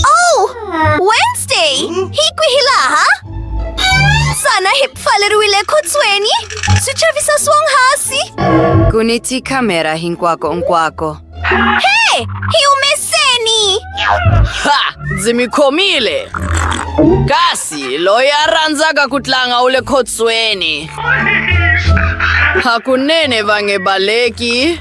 Oh! Wednesday! Hi kwihi laha? Xana hi pfaleriwile ekhotsweni? Swi chavisa swonghasi! Ku ni tikhamera hinkwako-nkwako. He! Hi humeseni! Ha! Ndzi mi khomile! Kasi loyi a rhandzaka ku tlanga u le khotsweni. Hakunene va nge baleki.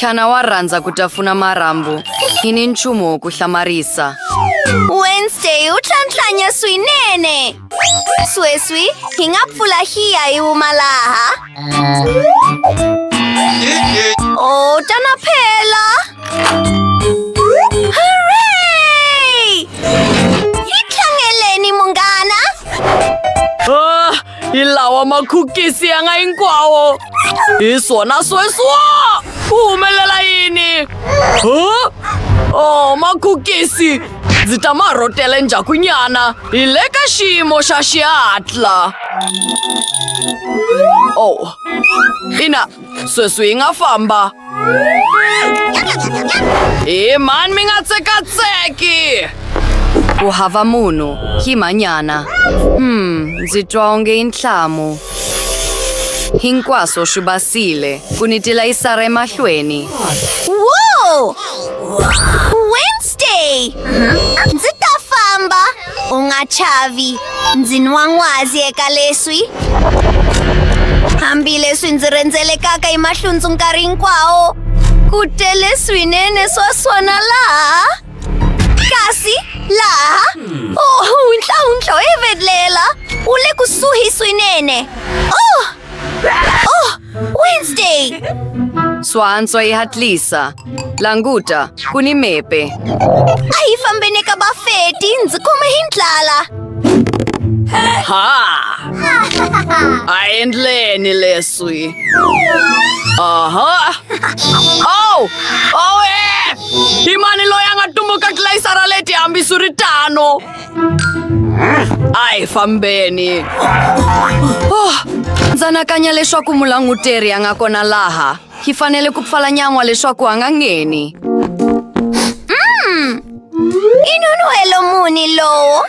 Xana wa rhandza ku tafuna marhambu hi ni nchumu wo ku hlamarisa? Wednesday u tlhantlhanya swinene. Sweswi hi nga pfula hiya hi huma laha. O ta na phela. Hooray! Hi tlhangeleni munghana. Ah, hi lawa makhukisi ya nga hinkwawo hi swona sweswo ku humelela yini huh? oh makhukisi ndzi ta ma rhotela endzhakunyana hi le ka xiyimo xa xihatla oh ina sweswi hi nga famba hi mani mi nga tsekatseki ku hava munhu hi manyana hmm ndzi twa onge i nhlamu hinkwaswo swi basile ku ni tilayisara emahlweni wo wednesday ndzi ta famba U nga chavi. Ndzi nwa n'wazi eka leswi. Hambileswi ndzi rhendzelekaka hi mahlundzu nkarhi hinkwawo, ku tele swinene swa swona laha. Kasi laha, oh, huntlahuntlha wo hevelela wu le kusuhi swinene. Oh! Oh! Wednesday! Suanzo e hatlisa. Languta, kuni mepe. Ai fambene ka ba feti, ndzi khome hi ndlala. Ha! A endleni leswi. Aha! Oh! Oh, eh! Hi mani loyi a nga tumbuka tlilayisara leti hambiswiritano? Ai, fambeni. Oh, ndza anakanya leswaku mulanguteri a nga kona laha. Hi fanele ku pfala nyan'wa leswaku a nga ngheni. I nun'hwelo muni lowu?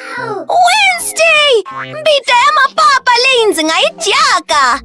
Wednesday! Mbita ya mapapa leyi ndzi nga yi dyaka!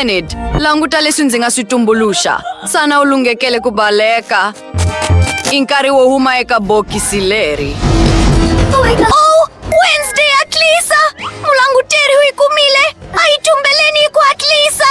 Enid, languta leswi ndzi nga swi tumbuluxa. Sana u lunghekele ku baleka. I nkarhi wo huma eka bokisi leri. Oh, Wednesday hatlisa! Mulanguteri u yi kumile! A yi tumbeleni hi ku hatlisa!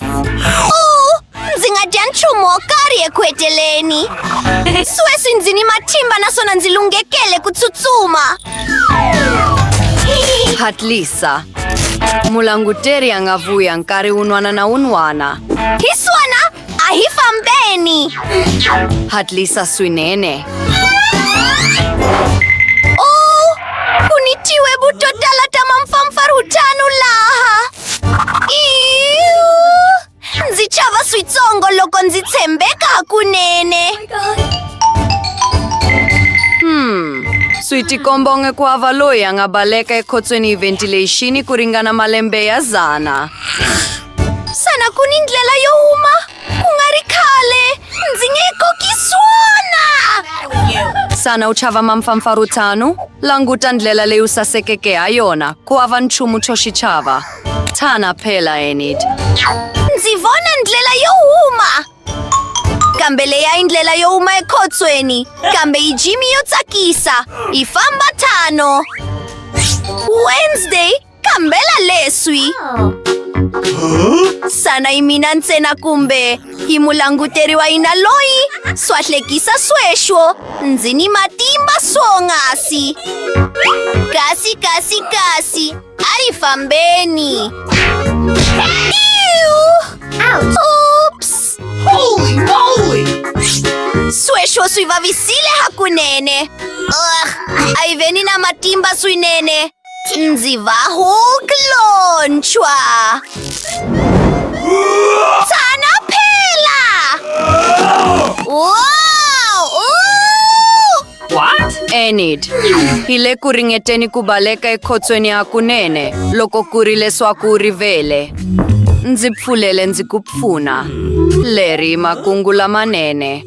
Oh, ndzi nga dya nchumu wo karhi eku heteleni sweswi ndzi ni matimba naswona ndzi lunghekele ku tsutsuma hatlisa mulanguteri a nga vuya nkarhi wun'wana na wun'wana hi swona a hi fambeni hatlisa swinene ndzi chava switsongo loko ndzi tshembeka hakunene hmm swi tikombonge ku hava loyi a nga baleka ekhotsweni hi ventilation ku ringana malembe ya zana xana ku ni ndlela yo huma Ku nga ri khale ndzi nge koki swona! Xana u chava mampfampfarhutano? Languta ndlela leyi u sasekeke ha yona, ku hava nchumu xo xi chava. Tshana phela, Enid. Ndzi vona ndlela yo huma! Kambe leyi a yi ndlela yo huma ekhotsweni, kambe yi jimi yo tsakisa. Yi famba tano. Wednesday Kambela leswi! Sana yi mina ntsena kumbe yi mulanguteriwa yina loyi swa hlekisa sweswo ndzi ni matimba swongasi kasi kasi kasi a ri fambeni Oops! Holy moly! Sweswo swi vavisile hakunene. Ugh, a yi veni na matimba swinene. Ndzi va hu klonchwa. Tsana phela! Wow! Ooh! What? Enid, hi le ku ringeteni ku baleka ekhotsweni hakunene loko ku ri leswaku u rivele. Ndzi pfulele ndzi ku pfuna. Leri i makungu lamanene.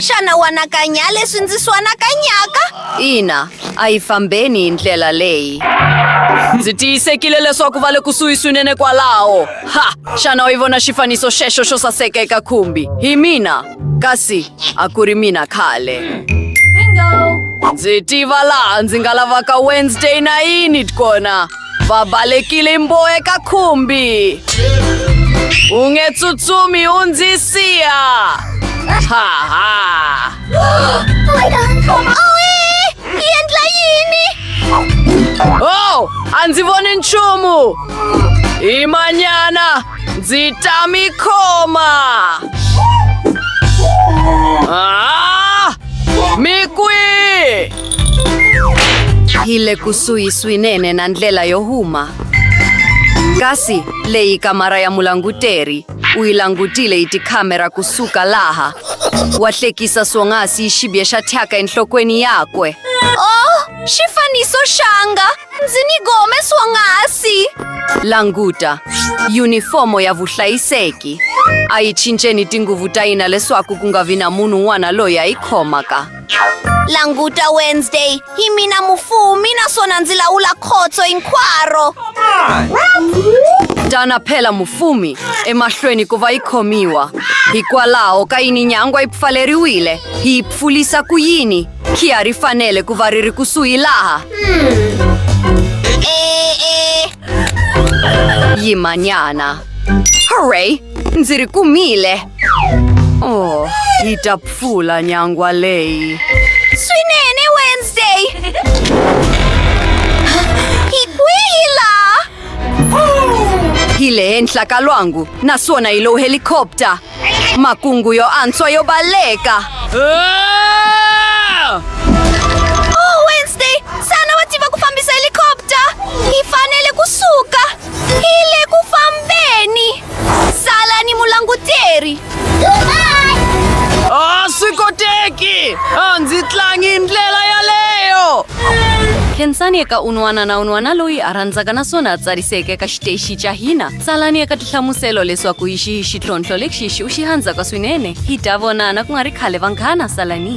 xana u anakanya leswi ndzi swi anakanyaka ina a yi fambeni hi ndlela leyi ndzi tiyisekile leswaku va le kusuhi swinene kwalaho ha xana u yi vona xifaniso xexo xo saseka eka khumbi hi mina kasi a ku ri mina khale ndzi tiva laha ndzi nga lavaka wednesday na yini kona va balekile mboe ka khumbi u nge tsutsumi u ndzi siya ha ha yi endla yini oh a ndzi voni nchumu hi manyana ndzi ta mi khoma ah! mi kwihi Hi le kusuhi swinene na ndlela yo huma. Kasi leyi kamara ya mulanguteri u yi langutile hi tikhamera kusuka laha. Wa hlekisa swonghasi hi xibye xa thyaka enhlokweni yakwe. Oh, xifaniso xanga! Ndzi ni gome swonghasi! Languta, yunifomo ya vuhlayiseki. A yi cinceni tinguvu ta yina leswaku ku nga vi na munhu un'wana loyi a yi khomaka. languta wednesday hi mina mufumi naswona ndzi lawula khotso hinkwaro dana phela mufumi emahlweni ku va yi khomiwa hikwalaho ka yini nyangwa yi pfaleriwile hi yi pfulisa ku yini khiya ri fanele ku va ri ri kusuhi laha e e Di manana. Hooray! Ndzi ri kumile! Oh, yi ta pfula nyangwa leyi. Swinene Wednesday! Hi kwihi laha? Hi le henhla ka lwangu naswona hi lo helicopter. Makungu yo antswa yo baleka! Oh, Wednesday! Sana wa tiva ku fambisa helicopter! Hi fanele ku suka! Hi le ku fambeni! Sala ni mulanguteri! A swi koteki! A ndzi tlangi hi ndlela yaleyo! Khensani eka un'wana na un'wana loyi a rhandzaka naswona a tsariseke eka xiteshi xa hina. tsalani eka tihlamuselo leswaku hi xihi xitlhontlho lexi xi u xi handzaka swinene hi ta vonana ku nga ri khale vanghana salani